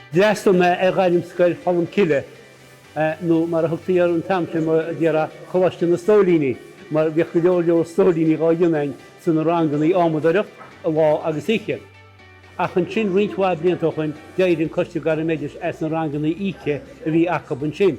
D'fhreastal mé ar Ghairmscoil Cholm Cille, nó mar a thugtaí air an t-am sin mar déarfá Coláiste na Stóilíní, mar bhíodh go leor leor stóilíní dhá dhéanamh againn sa na rangannaí adhmadóireacht, lá agus oíche. Ach ansin roinnt mhaith blianta ó shoin d'éirigh an Coiste Gairmoideachais as na rangannaí oíche a bhí acub ansin.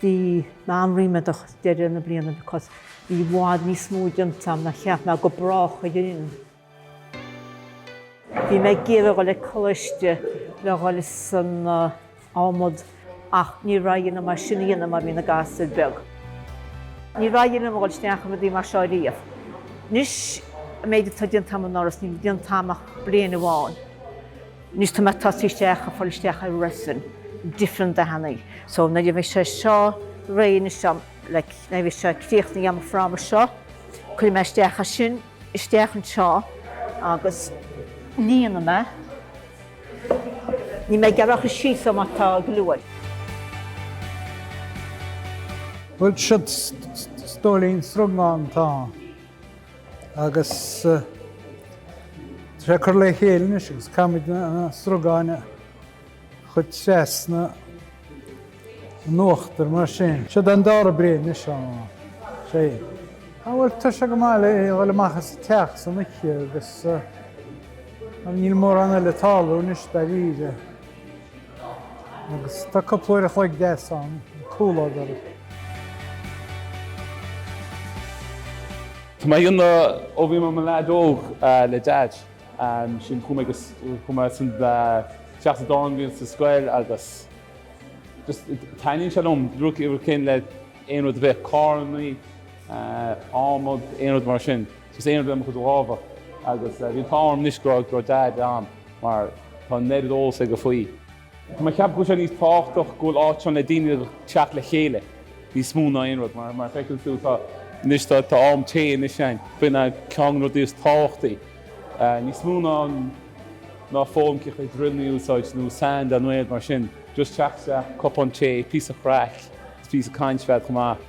Bhí mé an-ríméadach deireadh na bliana because bhí i bhfad níos mó déanta agam ná cheap mé go brách a dhéanfainn. Bhí mé ag iarraidh a dhul ag coláiste le a dhul san adhmad ach níor éirigh liom é sin a dhéanamh mar bhí na gasúir beag. Níor éirigh liom a dhul isteach i rudaí mar seo riamh. Anois an méid atá déanta agam anuraidh is níl déanta agam ach bliain amháin. Anois tá mé tosaithe isteach ag fáil isteach i resin different dathannaí so nuair a bhí sé seo réidh anseo like nuair a bhí sé críochnaithe agam an fráma seo cuirfidh mé isteach as sin isteach anseo agus líonfaidh mé. Níl mé gearrach i síth so má tá go leor. Bhuel seod stóilín srugán atá. Agus tar éis cur le chéile anois agus caithfimid na srugáin a chur trasna in uachtar mar sin. Seod an dara bliain anois á thréan. Á bhuel tá sé go maith le dhul amach as an teach san oíche agus níl mórán eile ag tarlú anois dáiríre. agus tá cúpla uair a chloig deas ann an comhluadar. Tá mé á dhéanamh ó bhí mé i mo leaid óg le Deaid. Sin chuaigh mé go chuaigh mé san teach sa dán bhliain sa scoil agus just taitníonn sé liom rud céanna le aon rud a bheith, carrannaí, adhmad, aon rud mar sin. Is aon rud le mo chuid lámha agus bhí an t-ádh orm anois go raibh Daid ann mar tá an oiread eolas aige faoi. Tá mé ag ceapadh go bhfuil sé níos tábhachtach go bhfuil áit ann le daoine ag teacht le chéile níos mó ná aon rud mar, mar a feiceann tú, tá, anois tá, tá am tae anois ann, b'in é ceann de na rudaí is tábhachtaí, níos mó ná an, ná foghlaim cé chaoi drill a úsáid nó sand nó aon rud mar sin, just teacht isteach, cupán tae, píosa craic, is píosa caint b'fhéidir chomh maith.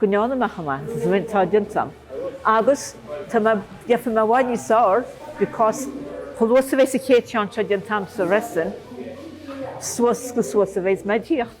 go ndearna mé chomh maith is atá déanta agam agus tá mé, déanfaidh mé i bhfad níos fearr because chomh luath is a bheas an chéad cheann seo déanta agam sa resin suas chomh suas a bheas mé ag tíocht.